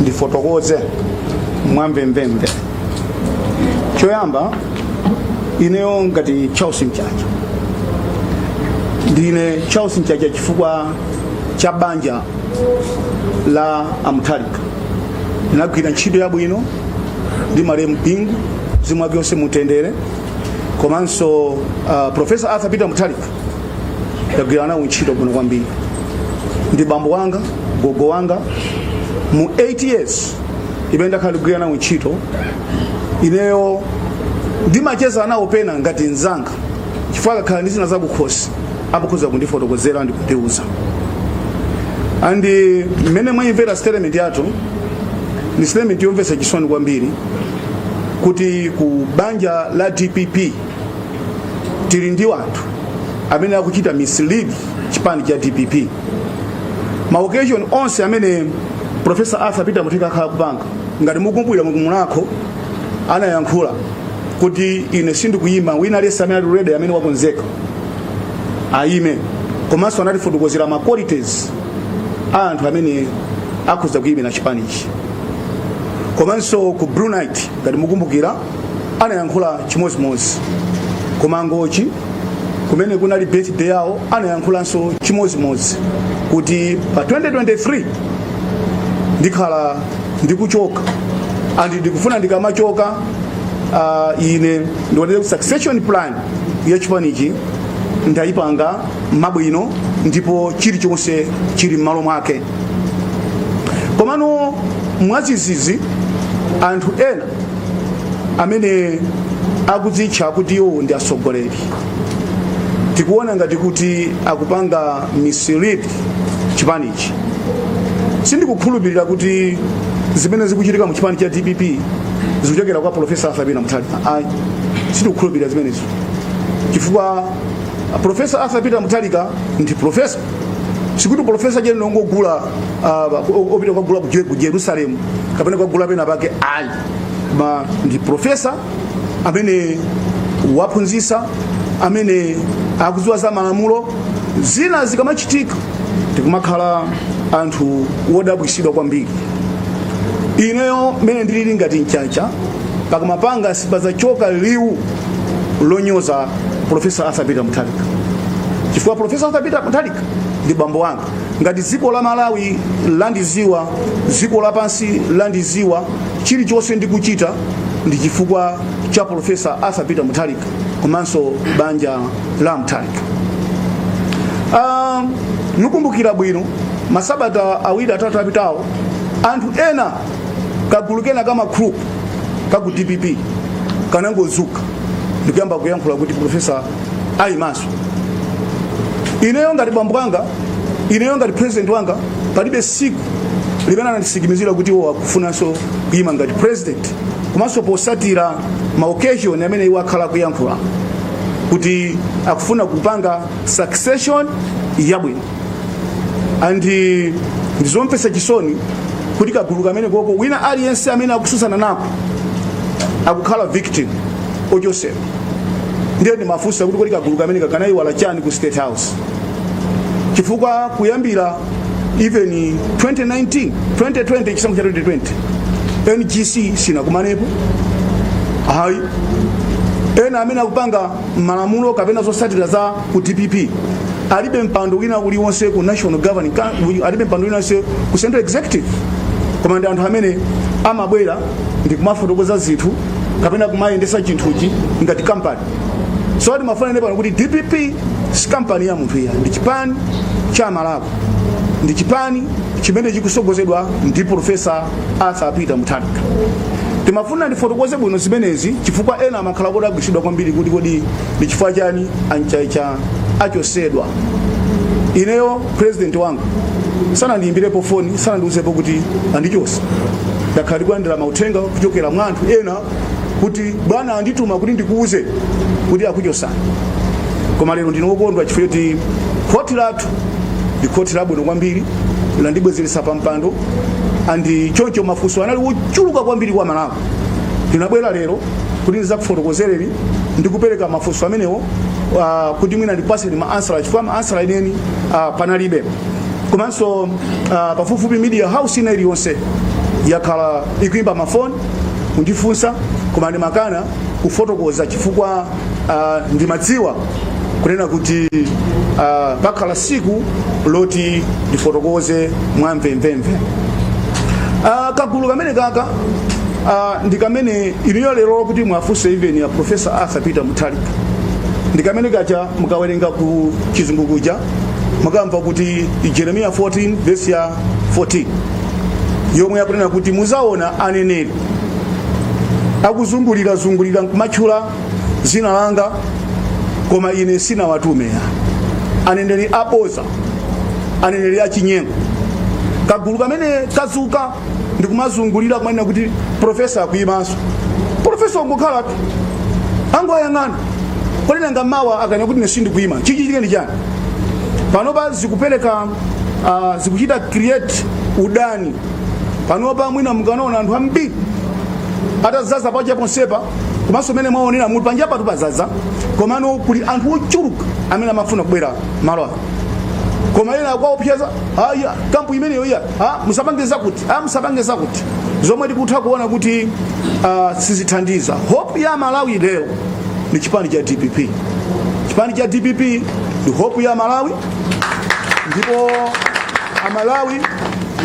ndifotokoze mwamvemvemve choyamba ineyo ngati charles mchacha ndine charles mchacha chifukwa cha banja la a mutharika ndinagwira ntchito yabwino ndi malemu bingu mzimu wake uwuse mutendere komanso uh, profesa arthur peter mutharika ndagwira nawo ntchito bwino kwambiri ndi bambo wanga gogo wanga mu 8 years imene ndakhala ndikugwira nawo ntchito ineyo ndimacheza nawo pena ngati nzanga chifukwa akakhala ndi zina zakukhosi amakhoza kundifotokozera ndi kundiuza and eh, mmene mwayimvera statement yathu ndi statement yomvetsa chisoni kwambiri kuti ku banja la dpp tili ndi anthu amene akuchita mislead chipani cha dpp ma occasion onse amene profesa arthur peter mutharika akhala akupanga ngati mukumbukira ku mulhako anayankhula kuti ine sindikuyima wina aliyense amene ali ready amene wakonzeka ayime komanso anatifotokozera ma qualities a anthu amene akhoza kuyimira chipanichi komanso ku blue night ngati mukumbukira anayankhula chimodzimodzi ku mangochi kumene kunali birthday yawo anayankhulanso chimodzimodzi kuti pa 2023 ndikhala ndikuchoka and ndikufuna ndikamachoka uh, ine ndione succession plan ya chipanichi ndayipanga mabwino ndipo chilichonse chili m'malo mwake komano mwadzidzidzi anthu ena amene akudzitcha kuti iwo ndi atsogoleri tikuona ngati kuti akupanga mislead chipanichi sindikukhulupirira kuti zimene zikuchitika mu chipani cha dpp zikuchokera kwa profesa arthur peter mutharika ayi sindikukhulupirira zimenezo chifukwa profesa arthur peter mutharika ndi profesa sikuti profesa ujeni wongogula uh, wopita kukagula ku- ku jerusalemu kapena kukagula pena pake ayi koma ndi profesa amene waphunzisa amene akudziwa za malamulo zina zikamachitika tikumakhala anthu wodabwisidwa kwambiri ineyo mene ndilili ngati mchacha pakamwa panga sipazachoka liwu lonyoza profesa arthur peter mutharika chifukwa profesa arthur peter mutharika ndi bambo wanga ngati dziko la malawi landiziwa dziko lapansi landiziwa chilichonse ndikuchita ndi chifukwa cha profesa arthur peter mutharika komanso banja la mutharika Ah, mukumbukira bwino masabata awiri atatu apitawo anthu ena kagulu kena ka magroup ka ku dpp kanangozuka ndikuyamba kuyankhula kuti profesa ayimanso ineyo ngati bambo wanga ineyo ngati president wanga palibe siku limene anandisikimizira kuti iwo akufunanso kuyima ngati president komanso posatira ma occasion amene iwo akhala akuyankhula kuti akufuna kupanga succession yabwino and eh, ndizomvetsa chisoni kuti kagulu kameneko ko wina aliyense amene akususana nako akukhala victim ochosedwa ndiye ndimafunsa kuti kodi kagulu kameneka kanayiwala chani ku state house chifukwa kuyambira even 2019 2020 chisankho cha 2020 ngc sinakumanepo ayi ena amene akupanga malamulo kapena zotsatira za ku dpp alibe mpando wina uliwonse ku national governing Coun- alibe mpando wina uliwonse ku central executive koma ndi anthu amene amabwera ndi kumafotokoza zinthu kapena kumayendesa chinthuchi ngati kampani so timafuna tinene pano kuti dpp si kampani ya munthu iya ndi chipani cha amalawi ndi chipani chimene chikusogozedwa ndi profesa arthur peter mutharika timafuna ndifotokoze bwino zimenezi chifukwa ena amakhala kuti agwisidwa kwambiri kuti kodi ndi chifukwa chani a Nhlane Chacha achosedwa ineyo president wanga sanandiyimbirepo foni sanandiuzepo kuti andichosa ndakhala ndikulandira mauthenga kuchokera mwa anthu ena kuti bwana andituma kuti ndikuuze kuti akuchosani koma lero ndine wokondwa chifukwa choti khoti lathu ndi khoti labwino kwambiri landibwezeretsa pa mpando and choncho mafunso anali wochuluka kwambiri kwa amalawi ndinabwera lero kuti ndizakufotokozereni ndikupereka mafunso amenewo uh, kuti mwina ndikupaseni ma answer chifukwa ma answer enieni uh, panalibe komanso uh, pafupifupi media house ina iliyonse yakhala ikuimba mafoni kundifunsa koma ndimakana kufotokoza chifukwa uh, ndimadziwa kunena kuti uh, pakhala siku loti ndifotokoze mwamvemvemve uh, kagulu kamene kaka uh, ndi kamene ineyo lero kuti mwafunse even ya professor arthur peter mutharika ndi kamene kaja mukawerenga ku chizungu kuja mukamva kuti jeremiya 14 vesi ya 14 yomwe yakunena kuti muzaona aneneri akuzungulirazungulira nkumatchula zina langa koma ine sinawatume aneneri aboza aneneri achinyengo kagulu kamene kazuka ndikumazungulira kumanena kuti profesa akuyimanso profesa ungokhalatu angoyang'ana kodi nanga mawa akanena kuti ine sindikuyima chichitike ndi chani panopa zikupereka uh, zikuchita create udani panopa mwina mukanaona anthu ambiri atazaza paja ponsepa komanso mmene mwaonera muti panja patu pazaza komano kuli anthu ochuluka amene amafuna kubwera malo ano koma ena akuwaopseza aya kampu imeneyo iya a musapange zakuti a musapange zakuti zomwe tikutha kuona kuti uh, sizithandiza hope ya malawi lero ni chipani cha dpp chipani cha dpp ni hope ya malawi ndipo amalawi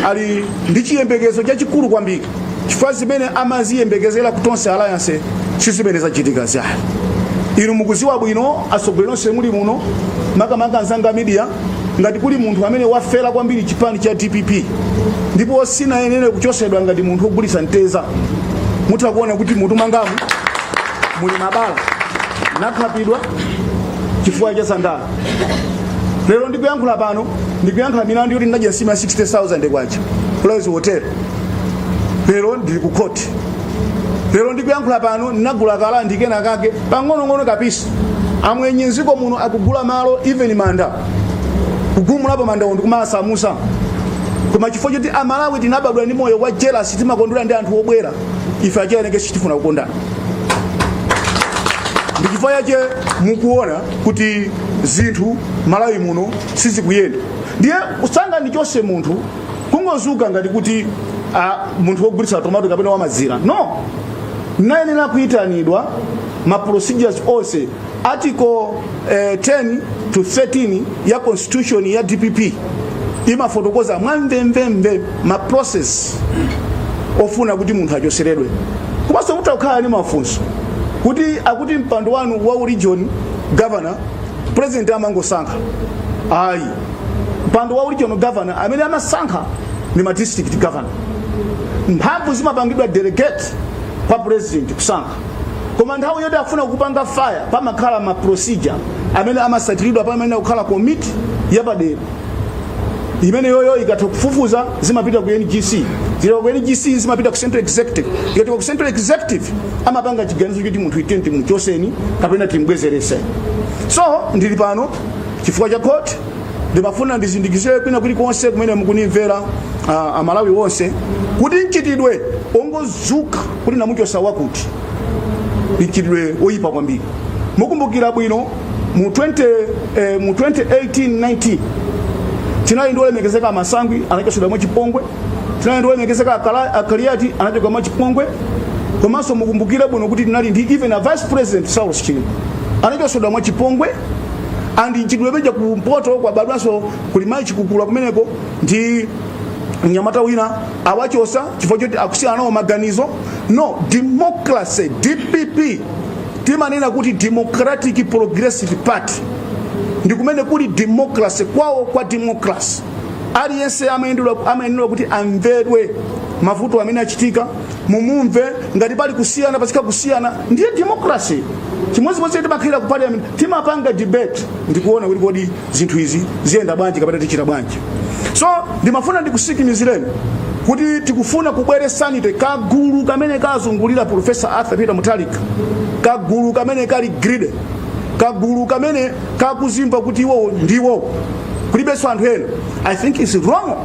ali ndi chiyembekezo chachikulu kwambiri chifukwa zimene amaziyembekezera kutonse alliance sizimene zachitikazayi inu mukuziwa bwino atsogoleri nonse muli muno makamaka anzanga media ngati kuli munthu amene wafera kwambiri chipani cha dpp ndipo sinayenere kuchosedwa ngati munthu wogulitsa mteza mutha kuona kuti mmutu mwangamu muli mabala nakhapidwa chifukwa cha zandala lero ndikuyankhula pano ndikuyankhula milandu yoti ndinadya nsima ya 60000 kwacha kulawezi hotel lero ndili ku khoti lero ndikuyankhula pano ndinagula ka land kenakake pang'onong'ono ka piece amwenye mdziko muno akugula malo even manda kugumulapo mandawo ndikumasamusa koma chifukwa choti amalawi tinabadwa ndi moyo wa jealous timakondwera ndi anthu obwera ife achelengechi sitifuna kukondana ndichifukwa yache mukuona kuti zinthu malawi muno sizikuyenda ndiye usangandichose munthu kungozuka ngati kuti ah, munthu wogulitsa tomato kapena wamazira no nayenera kuyitanidwa ma procedures onse article eh, 10 to 13 ya constitution ya dpp imafotokoza mwamvemvemve ma process ofuna kuti munthu achoseredwe komanso mutha kukhala ndi mafunso kuti akuti mpando wanu wa u region governor president amangosankha ayi mpando wa u region governor amene amasankha ni ma district governor mphamvu zimapangidwa delegate kwa president kusankha koma nthawi yoti afuna kupanga fire pamakhala ma procedure amene amasatiridwa pamayenera kukhala komiti yapadera imene yoyo ikatha kufufuza zimapita ku ngc zikachoka ku ngc zimapita ku central executive ikachoka ku central executive amapanga chiganizo choti munthu uyu timuchoseni kapena timbwezerese so ndili pano chifukwa cha court ndimafuna ndizindikizire kwina kulikonse kumene mukundimvera ah, amalawi onse kuti mchitidwe ongozuka kuti ndamuchosa wakuti mchitidwe oyipa kwambiri mukumbukira bwino mu 20, eh, mu 2018-19 tinali ndi olemekezeka a masangwi anachotsedwa mwachipongwe tinali ndi olemekezeka Akala- a kaliati anachotsedwa mwachipongwe komanso mukumbukire bwino kuti tinali ndi even a vice president saulos chilima anachotsedwa mwachipongwe and mchitidwe uja kumpoto wabadwanso kuli mayi chikukula kumeneko ndi mnyamata wina awachosa chifukwa choti akusiyana nawo maganizo no democracy dpp timanena kuti democratic progressive party ndi kumene kuli democracy kwawo kwa democracy aliyense amayendedwa- amayenera kuti amvedwe mavuto amene achitika mumumve ngati pali kusiyana pachitika kusiyana ndiye democracy chimodzimodzi timakhalira ku parliament timapanga debate ndikuona kuti kodi zinthu izi ziyenda bwanji kapena tichita bwanji so ndimafuna ndikusikimizireni kuti tikufuna kubwere sanity kagulu kamene kazungulira profesa arthur peter mutharika kagulu kamene kali greedy kagulu kamene kakuzimva kuti iwowo ndi iwowo kulibenso anthu ena i think it's wrong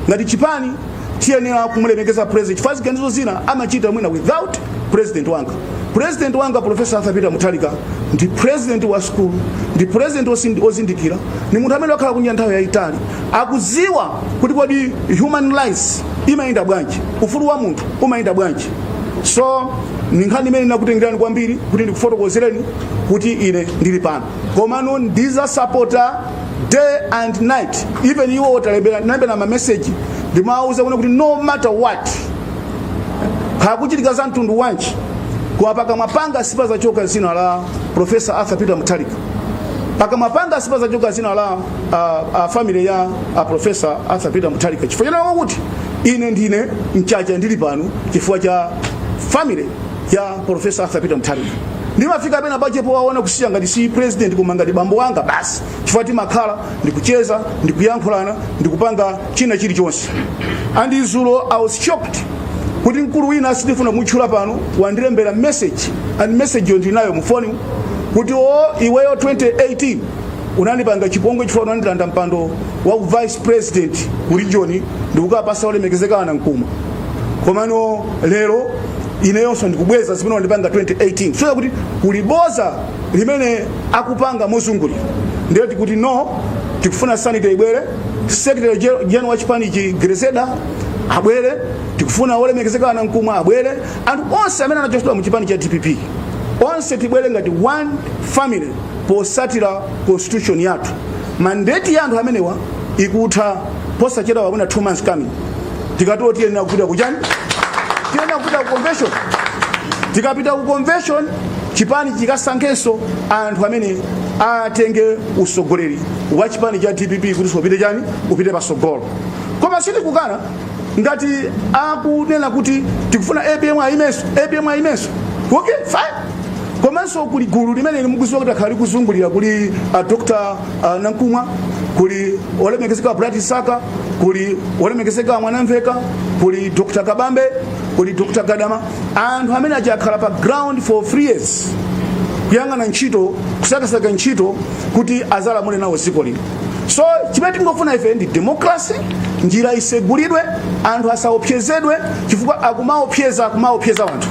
ngati chipani tiyenera kumulemekeza president chifukwa ziganizo zina amachita mwina without president wanga president wanga profesa arthur peter mutharika ndi president wa sukulu ndi president osindi- ozindikira ni munthu amene wakhala kunja nthawi yayitali akuziwa kuti kodi human rights imayenda bwanji ufulu wa munthu umayenda bwanji so ni nkhani imene ndinakutengerani kwambiri kuti ndikufotokozereni kuti ine ndili pano komano ndizasapota day and night even iwo ndawalembera ndalembera ma message ndimawauza kuno kuti no matter what kukuchitika za mtundu wanji koma pakamwa panga sipazachoka zina la profesa arthur peter mutharika pakamwa panga sipazachoka zina la uh, uh, family ya uh, profesa arthur peter mutharika chifukwa chanawo kuti ine ndine mchacha ndili pano chifukwa cha family ya Profesa Arthur Peter Mutharika ndimafika pena pake powaona kusiya ngati si president koma ngati bambo wanga basi chifukwa timakhala ndikucheza ndikuyankhulana ndikupanga china chilichonse and izulo i was shocked kuti mkulu wina sindifuna kumutchula pano wandilembera message and message yo ndinayo mufoni kuti o iweyo 2018 unandipanga chipongwe chifukwa unandilanda mpando wa vice president ku region ndikukapasa olemekezeka a nankhumwa komano lero ineyonso ndikubweza zimene unandipanga 2018 so ya kuti kuli boza limene akupanga mozungulira ndiye tikuti no tikufuna sanity ibwere secretary gen- general wa chipanichi Grezelder abwere tikufuna olemekezeka a Nankhumwa abwere anthu onse amene anachosedwa mu chipani cha dpp onse tibwere ngati one family posatira constitution yathu mandate ya anthu amenewa ikutha posachedwapa within two months coming tikatero tiyenera kupita kuchani tiyenera kupita ku convention tikapita ku convention chipani chikasankhenso anthu amene atenge usogoleri wa chipani cha dpp kuti so upite chani upite pasogolo koma sitikukana ngati akunena kuti tikufuna apm ayimenso apm ayimenso okay fine komanso kuli gulu limene mukuziwa kuti lakhala likuzungulira kuli a dr uh, Nankhumwa kuli olemekezeka Bright Msaka kuli olemekezeka Mwanamvekha kuli dr kabambe kuli dr gadama anthu amene akhala pa ground for three years kuyang'ana ntchito kusakasaka ntchito kuti azalamule nawo dziko lino so chimene tingofuna ife ndi democracy njira isegulidwe anthu asaopsezedwe chifukwa akumaopseza akumaopseza wanthu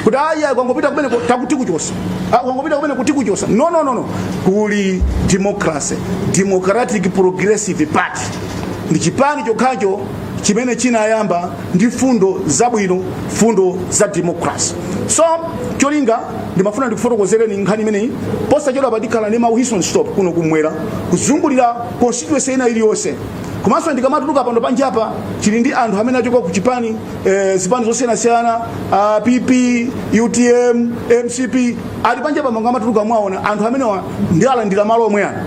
kuti ayi akangopita kumeneko tikuti tikuchosa Ah, akangopita kumeneko tikuchosa no no no no kuli democracy democratic progressive party ndi chipani chokhacho chimene chinayamba ndi fundo zabwino fundo za democracy so cholinga ndimafuna ndikufotokozereni nkhani imeneyi posachedwapa tikhala ndi ma whistle stop kuno kumwera kuzungulira constituency ina iliyonse komanso ndikamatuluka pano panjapa tili ndi anthu amene achoka ku chipani e, zipani zosiyanasiyana uh, pp utm mcp ali panjapa mukamatuluka muwaona anthu amenewa ndiwalandira malo omwe ano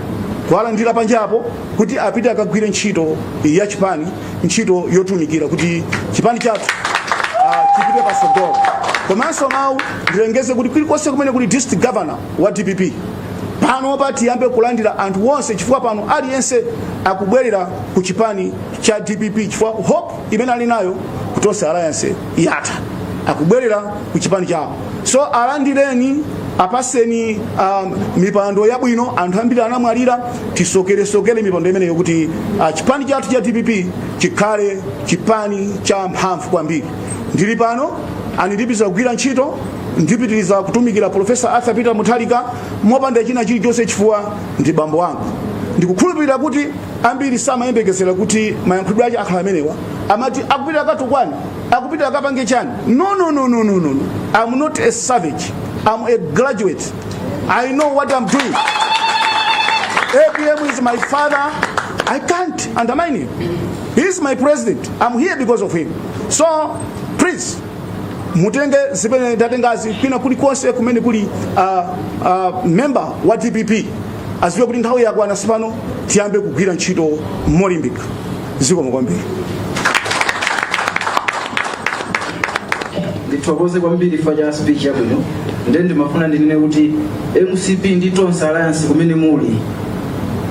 kuwalandira panjapo kuti apite akagwire ntchito ya chipani ntchito yotumikira kuti chipani chathu uh, chipite pasogolo komanso mwina ndilengeze kuti kulikonse kumene kuli district governor wa dpp panopa tiyambe kulandira anthu onse chifukwa pano aliyense akubwerera ku chipani cha dpp chifukwa hope imene ali nayo ku tonse alliance yatha akubwerera ku chipani chawo so alandireni apaseni um, mipando yabwino anthu ambiri anamwalira tisokeresokere mipando imeneyo kuti uh, chipani chathu cha dpp chikhale chipani cha mphamvu kwambiri ndili pano and ndipitiriza kugwira ntchito ndipitiriza kutumikira professor Arthur Peter Mutharika mopanda china chilichonse chifukwa ndi bambo wanga ndikukhulupirira kuti ambiri samayembekezera kuti mayankhulidwe ache akhala amenewa amati akupita akatukwane akupita akapange chani no, no, no, no, no, no. I'm not a savage I'm a graduate I know what I'm doing APM is my father I can't undermine him he is my president I'm here because of him so please mutenge zimene ndatengazi kwina kulikonse kumene kuli uh, uh, member wa dpp aziwe kuti nthawi yakwana tsopano tiyambe kugwira ntchito molimbika zikomo kwambiri ndithokoze kwambiri chifukwa cha speech yabwino ndiye ndimafuna ndinene kuti mcp ndi tonse alliance kumene muli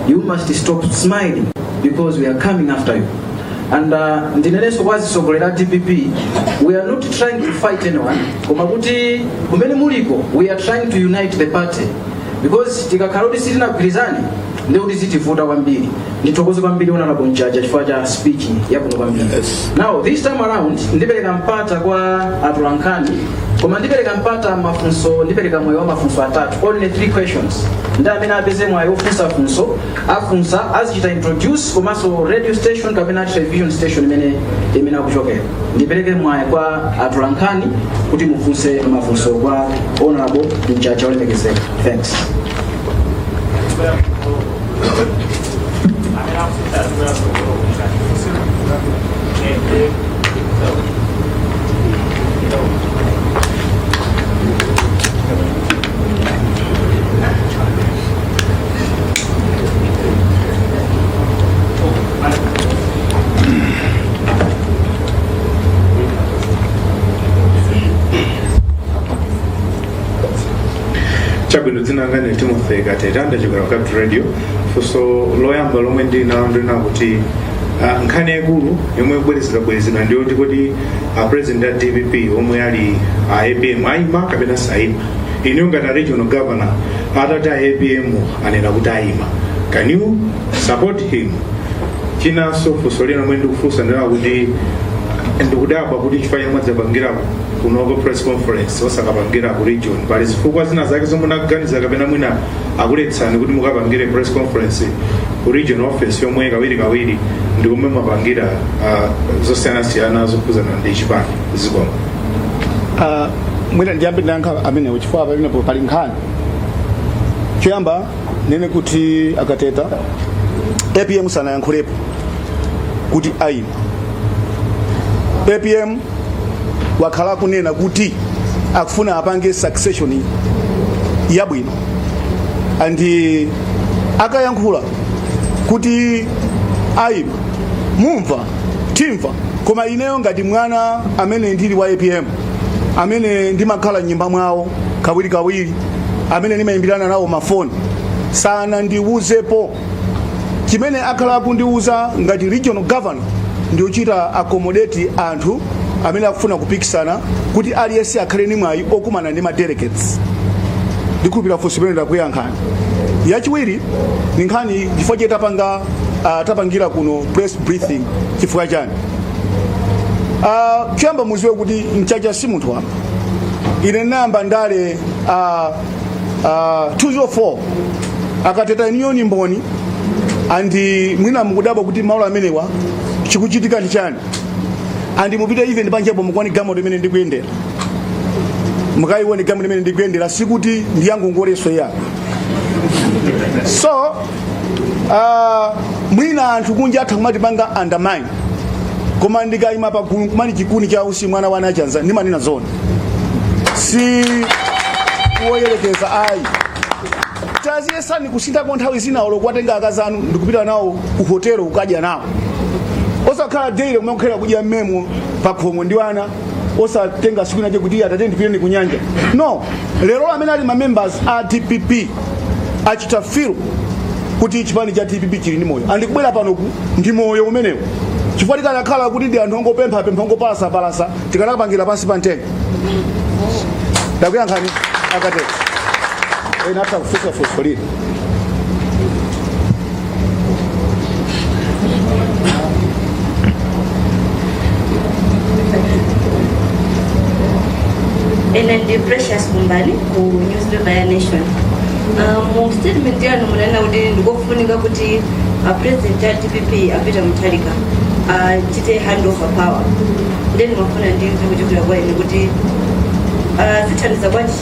you must stop smiling because we are coming after you and uh, ndinenenso kwa atsogoleri a dpp we are not trying to fight anyone koma kuti kumene muliko we are trying to unite the party because tikakhala kuti sitinagwirizane ndi kuti zitivuta kwambiri ndithokoze kwambiri honorable mchacha chifukwa cha speech yabwino kwambiri Yes. now this time around ndipereka mpata kwa atolankhani koma ndipereka mpata mafunso ndipereka mwayi wa mafunso atatu only three questions ndiye amene apeze mwayi wofunsa funso afunsa azichita introduce komanso radio station kapena television station imene imene akuchokera ndipereke mwayi kwa atolankhani kuti mufunse mafunso kwa honorable mchacha olemekezeka thanks chabwino dzina langa ndi timothy kateta ndachokera ku capital radio funso loyamba lomwe ndili nalo ndi lakuti ah, nkhani yaikulu yomwe ikubwerezedwabwerezedwa ndi yoti kodi a president a dpp omwe ali a apm ayima kapena sayima inuyo ngati a regional governor atati a apm anena kuti ayima can you support him chinanso funso lina lomwe ndikufunsa ndi lakuti ndikudabwa kuti chifukwa chomwe mwadzapangira kunoko press conference osakapangira ku region pali zifukwa zina zake zomwe munaganiza kapena mwina akuletsani kuti mukapangire press conference ku region office yomwe kawiri kawiri ndi komwe mumapangira uh, zosiyanasiyana zokhudzana ndi chipani zikomo Ah, mwina ndiyambe ndayankha amenewo chifukwa pamenepo pali nkhani choyamba nene kuti akateta apm sanayankhulepo kuti aima apm wakhala akunena kuti akufuna apange succession yabwino andi akayankhula kuti aima mumva timva koma ineyo ngati mwana amene ndili wa apm amene ndimakhala m'nyumba mwawo kawirikawiri amene ndimayimbirana nawo mafoni sanandiwuzepo chimene akhala akundiwuza ngati regional governor ndikuchita accommodate anthu amene akufuna kupikisana kuti aliyense akhale ni mwayi okumana ndi madelegates ndikhulupirira funso limene ndakuyankhani yachiwiri ni nkhani chifukwa chake tapanga uh, tapangira kuno press briefing chifukwa chani uh, choyamba muziwe kuti mchacha si munthu wamba ine ndinayamba ndale uh, uh, 204 akateta ineyo ndi mboni andi mwina mukudabwa kuti malo amenewa chikuchitika ndi chani andi mupite even panjapo mukaone galimoto imene ndikuyendera mukayiwone galimoto imene ndikuyendera sikuti ndiyangongoleso iyayi so uh, mwina anthu kunja atha kumatipanga undermine koma ndikayima pa gulu kumati chikuni cha utsi mwana wa nachanza ndimanena zoona si woyerekeza ayi taziyesani kusinthako nthawi zina olo kuwatenga akazi anu ndikupita nawo kuhotelo kukadya nawo osakhala daily kumakhala kudya mmemo pa khomo ndi wana osatenga tsiku linalake kuti atate ndipitireni kunyanja no lero amene ali mamembers a dpp achita feel kuti chipani cha dpp chili ndi moyo andikubwera panoku ndi moyo umenewo chifukwa tikanakhala kuti ndi anthu ongopempha pempha ongopalasapalasa tikanapangira pansi pa mtengo ndakuyankhani akateta ena atha kufusafusa lini ine ndi precious kumbani ku newspaper ya nation Ah, mu statement yanu munanena kuti ndikofunika kuti a president a dpp a peter mutharika achite hand over power nde ndimafuna ndimve kuchokera kwa inu kuti ah, zithandiza bwanji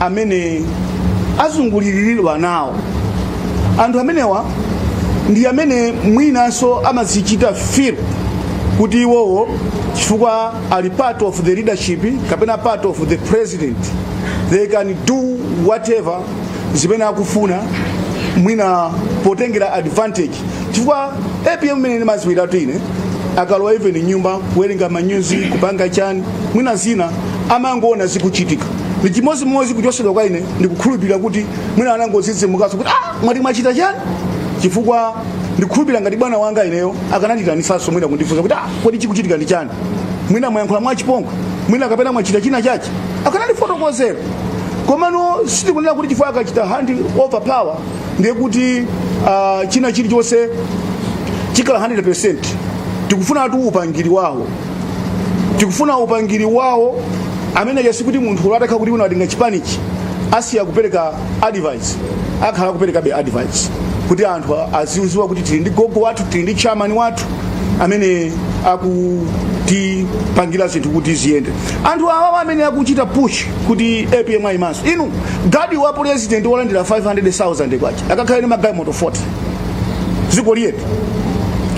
amene azunguliridwa nawo anthu amenewa ndi amene mwinanso amazichita feel kuti iwowo chifukwa ali part of the leadership kapena part of the president they can do whatever zimene akufuna mwina potengera advantage chifukwa apm amene ndimamuziwatu ine akalowa even m'nyumba kuwerenga manyuzi kupanga chani mwina zina amangoona zikuchitika ndi chimodzimodzi kuchosedwa kwa ine ndikukhulupirira kuti mwina anangodzidzimukaso kuti ah mwati mwachita chani chifukwa ndikhulupirira ngati bwana wanga ineyo akananditanisanso mwina kundifunsa kuti ah kodi chikuchitika ndi chani mwina mwayankhula mwachipongwe mwina kapena mwachita china chachi akanandifotokozera komano sitikunena kuti chifukwa akachita hand over power ndiye kuti ah, china chilichonse chikhala 100 tikufuna tu upangiri wawo tikufuna upangiri wawo amene nayesa kuti munthu olo atakhala kuti unatenga chipanichi asiya kupereka advice akhala kuperekabe advice kuti anthu azidziwa kuti tili ndi gogo wathu tili ndi chairman wathu amene akutipangira zinthu kuti ziyende anthu awawa amene akuchita push kuti apm ayimanso inu gadi wa president wolandira 500000 kwacha akakhala ni magalimoto 40 dziko liyetu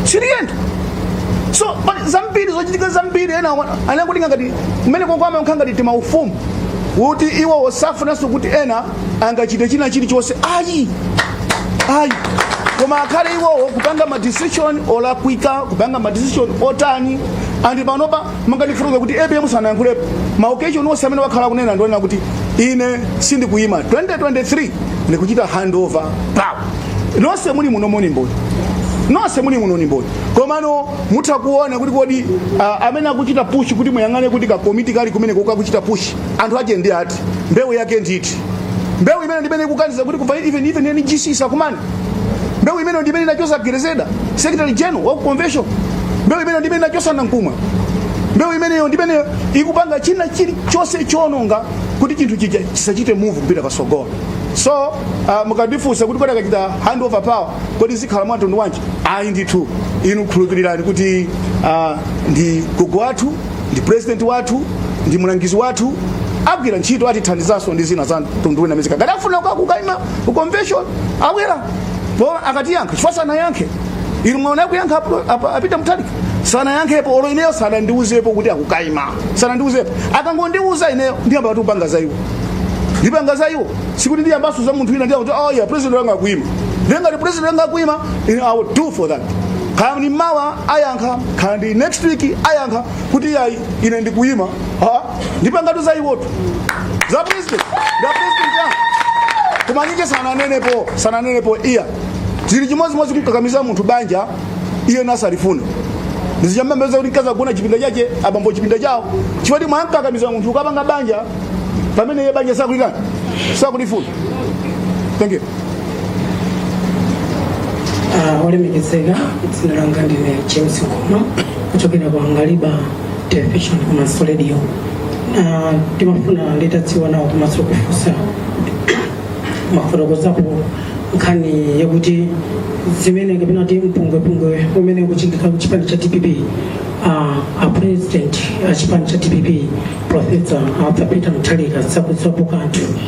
siliyenda so pali zambiri zochitika zambiri ena anakulinga ngati kumeneko kumakhala ngati timaufumu kuti iwo osafunanso kuti ena angachite china chilichonse ayi ayi koma akhale iwowo kupanga madecision olakwika kupanga madecision otani andi panopa monga ndifotokoza kuti apm sanayankhulepo maokeshoni onse amene wakhala akunena ndionena kuti ine sindikuyima 2023 ndikuchita handover power nonse muli muno ndi mboni nonse muli muno ndi mboni komano mutha kuona kuti kodi uh, amene akuchita push kuti muyang'ane kuti kakomiti kali kumene kukakuchita push anthu ache ndi ati mbewu yake ndi iti mbewu imene ndimene ikukaniza kuti kuva even even NGC sakumana mbewu imene ndimene inachosa Grezelder secretary general wa convention mbewu imene ndimene inachosa Nankhumwa mbewu imeneyo ndimene ikupanga china chilichonse chononga kuti chinthu chija chisachite move kupita pasogolo so uh, mukandifunsa kuti kodi akachita hand over power kodi zikhala mwamtundu wanji ayi ndithu inu khulupirirani kuti uh, ndi gogo wathu ndi president wathu ndi mlangizi wathu agwira ntchito atithandizanso ndi zina za mtundu wina mzika ngati afuna kukaima ku convention abwera poyera akatiyankha chifukwa sanayankhe inu mwaona kuyankha apo- apo- a Peter Mutharika sanayankhepo olo ineyo sanandiuzepo kuti akukaima sanandiuzepo akangondiuza ineyo ndiyamba kupanga za iwo ndipanga za iwo sikuti ndiyambaso za munthu wina ndiyamba kuti oh yeah president wanga akuima ndiye ngati president wanga akuima ine i will do for that kaya ndi mawa ayankha kaya ndi next week ayankha kuti yayi ine ndikuima ah, ndipangatu za iwowo za president za president ya koma ndiye sananenepo sananenepo iya zili chimodzimodzi kumkakamiza munthu banja iye asakulifuna ndiye zizathera kuti mkazi agona chipinda chache abambo chipinda chawo chifukwa mwamkakamiza munthu ukapanga banja pamene iye banja sakulikana sakulifuna thank you Ah, olemekezeka dzina langa ndine james ngoma kuchokera ku Angaliba television komanso radio timafuna nditadziwa nawo komanso kufunsa mafotokozapo nkhani yakuti zimene kapena kuti mpungwepungwe umene ukuchitika ku chipani cha dpp ah, a president a chipani cha dpp profesa arthur peter mutharika sakudziwapo kanthu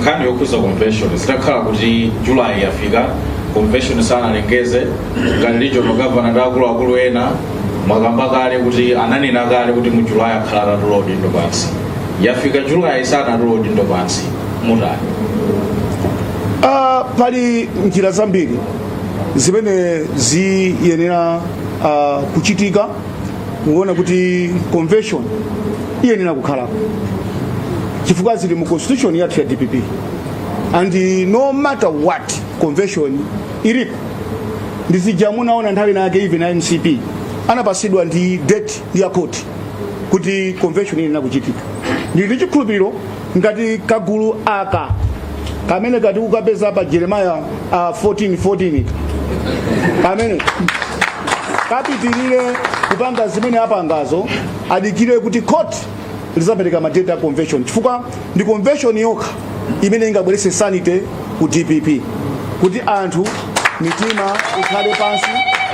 nkhani yokhuza convention zitakhala kuti julayi yafika convention sanalengeze ngati regional governor ndi akuluakulu ena mwakamba kale kuti ananena kale kuti mu julayi akhala atatula udindo pansi yafika julayi sanatula udindo pansi mutani Ah, pali njira zambiri zimene ziyenera ah, kuchitika mukuona kuti convention iyenera kukhalapo chifukwa zili mu constitution yathu ya dpp and no matter what convention ilipo ndizija munaona nthawi nake even a mcp anapasidwa ndi date ya khoti kuti convention iyenera kuchitika ndili ndi chikhulupiriro ngati kagulu aka kamene kati kukapeza pa jeremaya uh, 14 14 kamene kapitirire kupanga zimene apangazo adikire kuti court lizapereka madate a convention chifukwa ndi convention yokha imene ingabwerese sanity ku dpp kuti anthu mitima ikhale pansi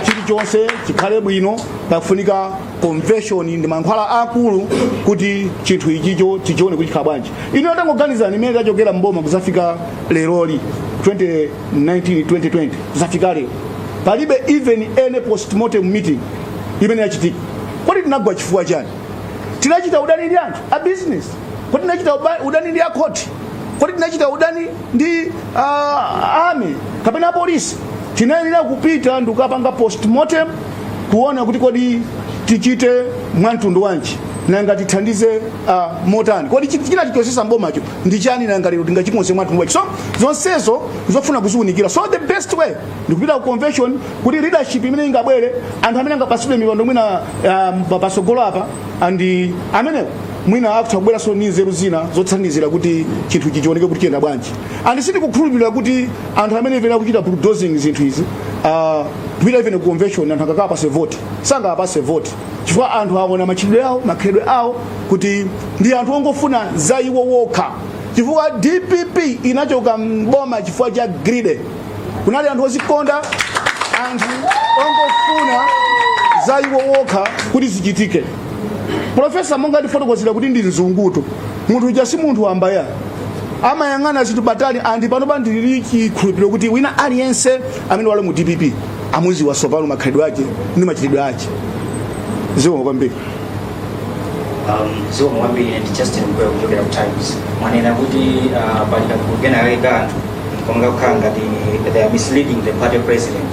chilichonse chikhale bwino pakufunika convention ndi mankhwala akulu kuti chinthu ichicho tichione kuti chikhala bwanji ine tangoganizani imene tachokera mboma kuzafika leroli 2019 2020 kuzafika lero palibe even any postmortem meeting imene yachitika kodi tinagwa chifukwa chani tinachita udani ndi anthu a business kodi tinachita uba- udani ndi akhoti kodi tinachita udani ndi uh, army kapena polisi tinayenera kupita ndikukapanga postmortem kuona kuti kodi tichite mwamtundu wanji nanga tithandize uh, motani kodi chi- china tichosesa m'bomacho ndi chani nanga lero tingachikonze mwamtundu wanji so zonsezo nzofuna kuziunikira so the best way ndikupita ku convention kuti leadership imene ingabwere anthu amene angapatsidwe mipando mwina uh, pasogolo apa and amenewo mwina akutha kubweranso ndi nzeru zina zothandizira kuti chinthu ichi chioneke kuti chiyenda bwanji and sindikukhulupirira kuti anthu amene imene akuchita bulldozing zinthu izi ah, kupita even ku convention anthu akakawapase vote sangawapase vote chifukwa anthu aona machitidwe awo makhalidwe awo kuti ndi anthu ongofuna za iwo wokha chifukwa dpp inachoka mboma chifukwa cha greed kunali anthu ozikonda anthu ongofuna za iwo wokha kuti zichitike profesa monga ndafotokozera kuti ndi mzungutu munthu uja si munthu wambaya amayang'ana zinthu patali andi panopa ndili chikhulupiriro kuti wina aliyense amene wali mu dpp amuziwa tsopano makhalidwe ake ndi machitidwe ake zikomo kwambiri zikomo kwambiri ndi justin mkweu kuchokera ku times mwanena kuti uh, pali kagulu kena kake ka anthu komwe kakukhala ngati they are misleading the party president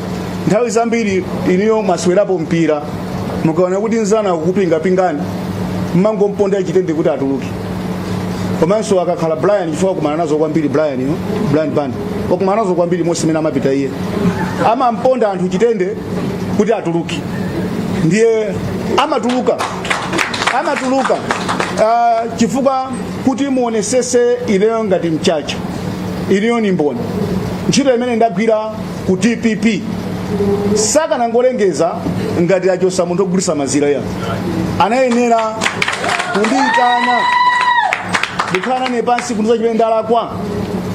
nthawi zambiri inuyo mwaswerapo mpira mukaona kuti nzanu akukupingapingani mmangomponda chitende kuti atuluke komanso akakhala brian chifukwa wakumana nazo kwambiri brian yo brian banda wakumana nazo kwambiri monse imene amapita iye amamponda anthu chitende kuti atuluke ndiye amatuluka amatuluka uh, chifukwa kuti muonesese ineyo ngati mchacha ineyo ni mboni ntchito imene ndagwira ku dpp sakanangolengeza ngati achosa munthu ogulisa mazira ya anayenera kundiyitana ndikhala nawo pansi kundiuza chimene ndalakwa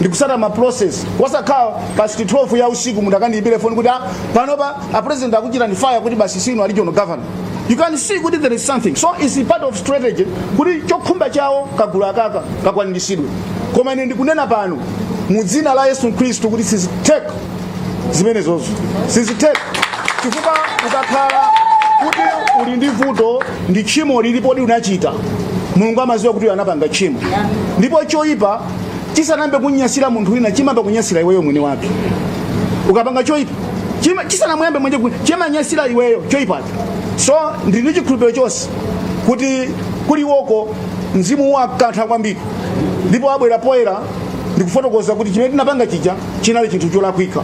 ndikusata ma process osakhala past 12 ya usiku munthu akandiyimbire foni kuti "Ah, panopa a president akuchitani fire kuti basi sinu regional governor you can see kuti there is something so is part of strategy kuti chokhumba chawo kagulu akaka kakwaniritsidwe koma ine ndikunena pano mu dzina la yesu khristu kuti sizitheka zimenezozo sizitheka chifukwa ukakhala kuti uli ndi vuto ndi tchimo lilipo ndi unachita mulungu amaziwa kuti anapanga tchimo ndipo choyipa chisanayambe kunyasira munthu wina chimayamba kunyasira iweyo mwini wake ukapanga choyipa Chima- chisanamuyambe mwene ku- chimanyasira iweyo choipacho so ndili ndi chikhulupiriro chonse kuti kuli iwoko mzimu wakantha kwambiri ndipo abwera poyera ndikufotokoza kuti chimene tinapanga chija chinali chinthu cholakwika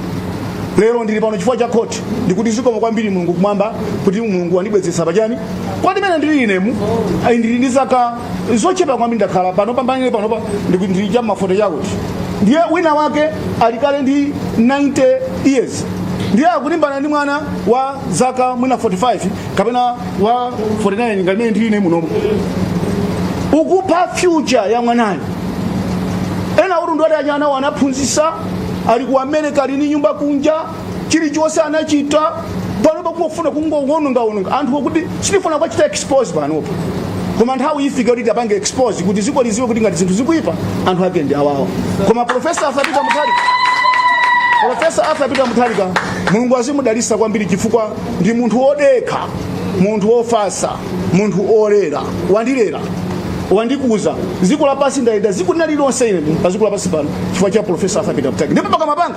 lero ndili pano chifukwa cha khoti ndikuti zikomo kwambiri mulungu kumwamba kuti mulungu wandibwezeretsa pachani kuti mmene ndili inemu ayi ndili ndi zaka zochepa kwambiri ndakhala pano pambanile panopa ndiku- ndili cha maforty chakuti ndiye wina wake ali kale ndi 90 years ndiye akulimbana ndi mwana wa zaka mwina 45 kapena wa 49 ngati mmene ndili ine munomo ukupha future ya mwanayo ena kuti ndiwati ana awo anaphunzisa ali ku america ali ni nyumba kunja chilichonse anachita panopa kungofuna kungowonongaononga anthu okuti sitifuna kuwachita expose panopa koma nthawi ifika kuti tiwapange expose kuti ziko liziwe kuti ngati zinthu zikuipa anthu ake ndi awawa koma profesa arthur peter mutharika profesa arthur peter mutharika mulungu azimudalisa kwambiri chifukwa ndi munthu wodekha munthu wofasa munthu olera wandilera wandikuza ziko lapasi ndayenda ziko linalilonse ine pa ziko lapasi pano chifukwa cha profesa arthur peter mutharika ndipo pakamapanga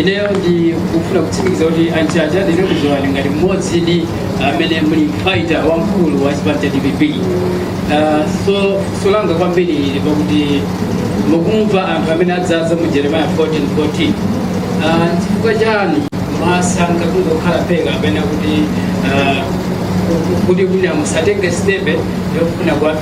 ineyo ndikufuna kutsimikiza kuti a Mchacha ndikudziwani ngati mmodzidi amene muli fighter wamkulu wa chipani cha dpp Ah, so tsoka langa kwambiri ili pakuti mukumva anthu amene adzadza mu jeremiah 14 14 Ah, chifukwa chani mwasankha kungokhala phee kapena kuti ah, kuti kuti musatenge stepe yofuna kuwapha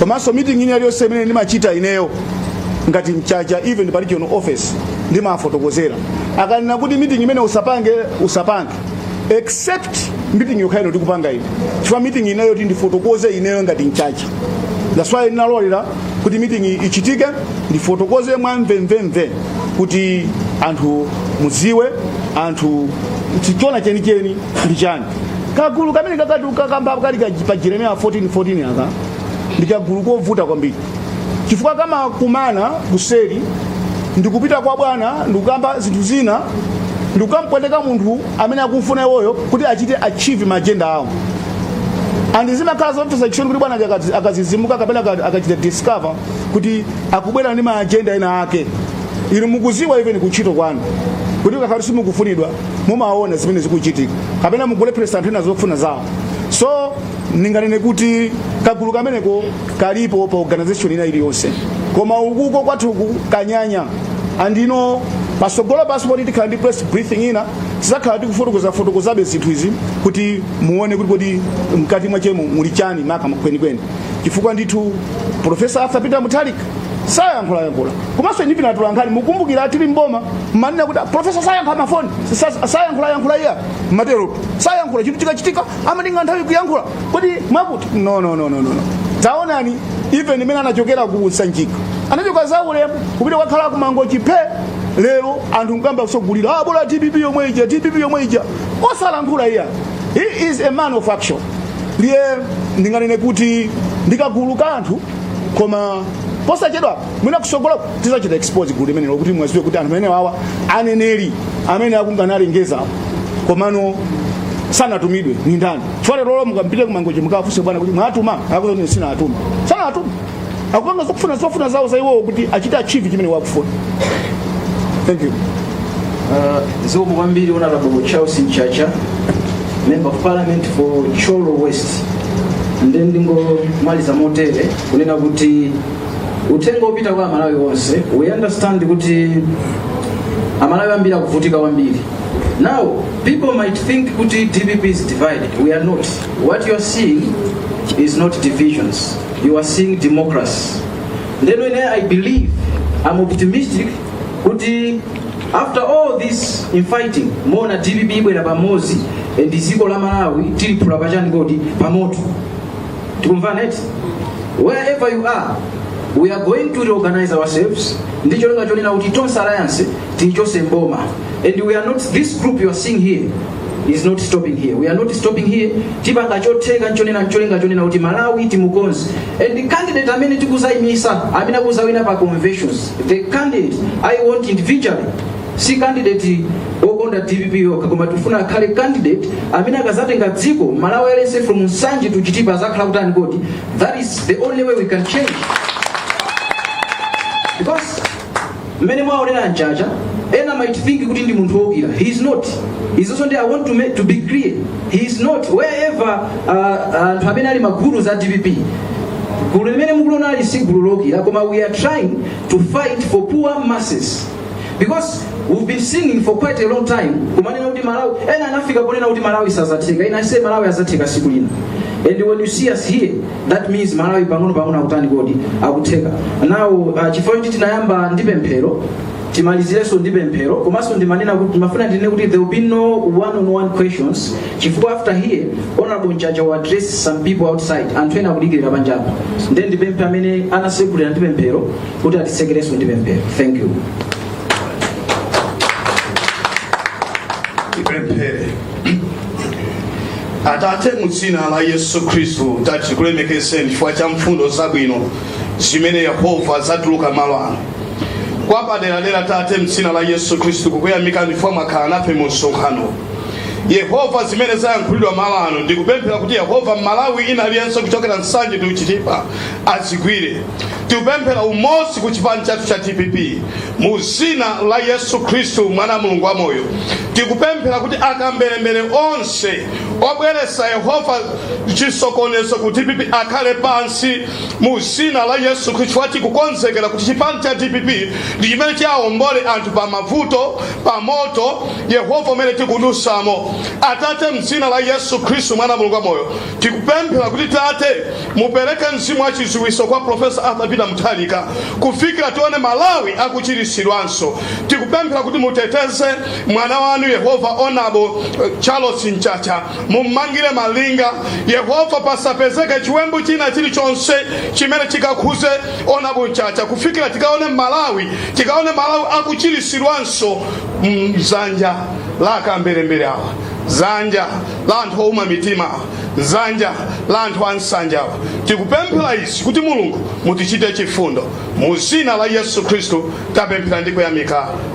komanso meeting ina iliyonse imene ndimachita ineyo ngati mchacha even pa regional office ndimafotokozera akanena kuti meeting imene usapange usapange except meeting yokha ino ndikupanga ine chifukwa meeting ineyo kuti ndifotokoze ineyo ngati mchacha that's why ndinalolera kuti meeting iyi ichitike ndifotokoze mwa mvemvemve kuti anthu muziwe anthu choona chenicheni ndi chani kagulu kamene mukukamba kali ka- pa jeremiya 14:14 aka ndi kagulu kovuta kwambiri chifukwa kamakumana kuseri ndikupita kwa bwana ndikukamba zinthu zina ndikukampweteka munthu amene akumfuna iwoyo kuti achite achieve ma agenda awo and zimakhala zomvetsa chisoni kuti bwana akazi- akazizimuka kapena aka- akachita discover kuti akubwera ndi ma agenda ena ake inu mukuziwa even kuntchito kwanu kuti mukakhala simukufunidwa mumaona zimene zikuchitika kapena mukulepheresa anthu ena zofuna zawo so ndinganene kuti kagulu kameneko kalipo pa organization ina iliyonse koma ukuko kwathuku kanyanya and nno patsogolopa basi poti tikhala ndi press briefing ina tizakhala tikufotokozafotokozabe zinthu izi kuti muone kuti kodi mkati mwachemo muli chani makamaka kwenikweni chifukwa ndithu profesa arthur peter mutharika sayankhulayankhula komanso inu atolankhani mukumbukira tili mboma mmanena kuti profesa sayankha mafoni sa- sayankhulayankhula iye amatero sayankhula chinthu chikachitika amatenga nthawi kuyankhula kodi mwakuti no no no no no no. taonani even imene anachokera ku sanjika anachoka mwaulemu kupita kukakhala ku Mangochi phee lero anthu mukamba mukulira ah, bola dpp yomwe ija dpp yomwe ija osalankhula uja he is a man of action ndiye ndinganene kuti ndikagulu ka anthu koma posachedwa mwina kusogolako tizachita expose gulu limenelo kuti muwaziwe kuti anthu amenewa aneneri amene akungolengeza komano sanatumidwe ndi ndani chifukwa lero lomwe mukampite ku Mangochi mukafunse a bwana kuti mwawatuma akuti ine sindinawatume sanawatume akupanga zofuna zofuna zawo za iwowo kuti achite achieve chimene akufuna thank you Uh, zikomo kwambiri honourable Charles Mchacha member of parliament for Thyolo West nde ndingomaliza motere kunena kuti uthenga opita kwa amalawi onse we understand kuti amalawi ambiri akuvutika kwambiri now people might think kuti dpp is divided we are not what you are seeing is not divisions you are seeing democracy ndeno ine i believe i'm optimistic kuti after all this infighting mona dpp ibwera pamodzi and dziko la malawi tiliphula pachiyani kodi pamoto tikumvana eti wherever you are we are going to reorganize ourselves ndi cholinga chonena kuti tonse alliance tichose mboma and we are not this group you are seeing here is not stopping here we are not stopping here tipanga chotheka nchonena ncholinga chonena kuti malawi timukonze and the candidate amene tikuzayimisa amene akuzawina pa conventions the candidate i want individually si candidate wokonda dpp yokha koma tifuna akhale candidate amene akazatenga dziko malawi aliyense from nsanje to chitipa azakhala akutani kodi that is the only way we can change because mmene mwaonera mchacha ena might think kuti ndi munthu wokwiya he is not izinso ndi i want to, make, to be clear he is not wherever uh, anthu amene ali magulu za dpp gulu limene mukuliona ili si gulu lokwiya koma we are trying to fight for poor masses because we've been singing for quite a long time kumanena kuti malawi ena anafika ponena kuti malawi sazatheka ine I say malawi azatheka siku lina and when you see us here that means malawi pang'ono pang'ono akutani kodi akutheka now uh, chifukwa choti tinayamba ndi pemphero timalizirenso ndi pemphero komanso ndimanena kuti ndimafuna ndinene kuti there will be no one on one questions chifukwa after here honorable mchacha will address some people outside anthu ena akudikirira panjapa then ndipemphe amene anasegulira ndi pemphero kuti atisekerenso ndi pemphero thank you tipemphere atate mu dzina la yesu khristu tate tikulemekezeni chifukwa cha mfundo zabwino zimene yehova zatuluka malo ano kwapaderadera tate mdzina la yesu khristu kukuyamikani chifukwa mwakhala nafe mu msonkhano yehova zimene zayankhulidwa malo ano ndikupemphera kuti yehova mmalawi wina aliyense kuchokera nsanje ndi ku chitipa azigwire tikupemphera umodzi ku chipani chathu cha dpp mu zina la yesu khristu mwana wa mulungu wa moyo tikupemphera kuti akamberembere onse obweresa yehova chisokonezo ku dpp akhale pansi mu zina la yesu khristu chifukwa tikukonzekera kuti chipani cha dpp ndi chimene chiwaombole anthu pa mavuto pa moto yehova umene tikudusamo atate mzina la yesu khristu mwana wa mulungu wamoyo tikupemphera kuti tate mupereke mzimu wa chidziwitso kwa profesa arthur peter mutharika kufikira tione malawi akuchiritsidwanso tikupemphera kuti muteteze mwana wanu yehova onabo eh, charles mchacha mummangire malinga yehova pasapezeke chiwembu china chilichonse chimene chikakhuze onabo mchacha kufikira tikaone malawi tikaone malawi akuchirisidwanso mzanja la akamberembere awa mzanja la anthu ouma mitima awa mzanja la anthu ansanje awa tikupemphera izi kuti mulungu mutichite chifundo mu zina la yesu khristu tapemphera ndi kuyamika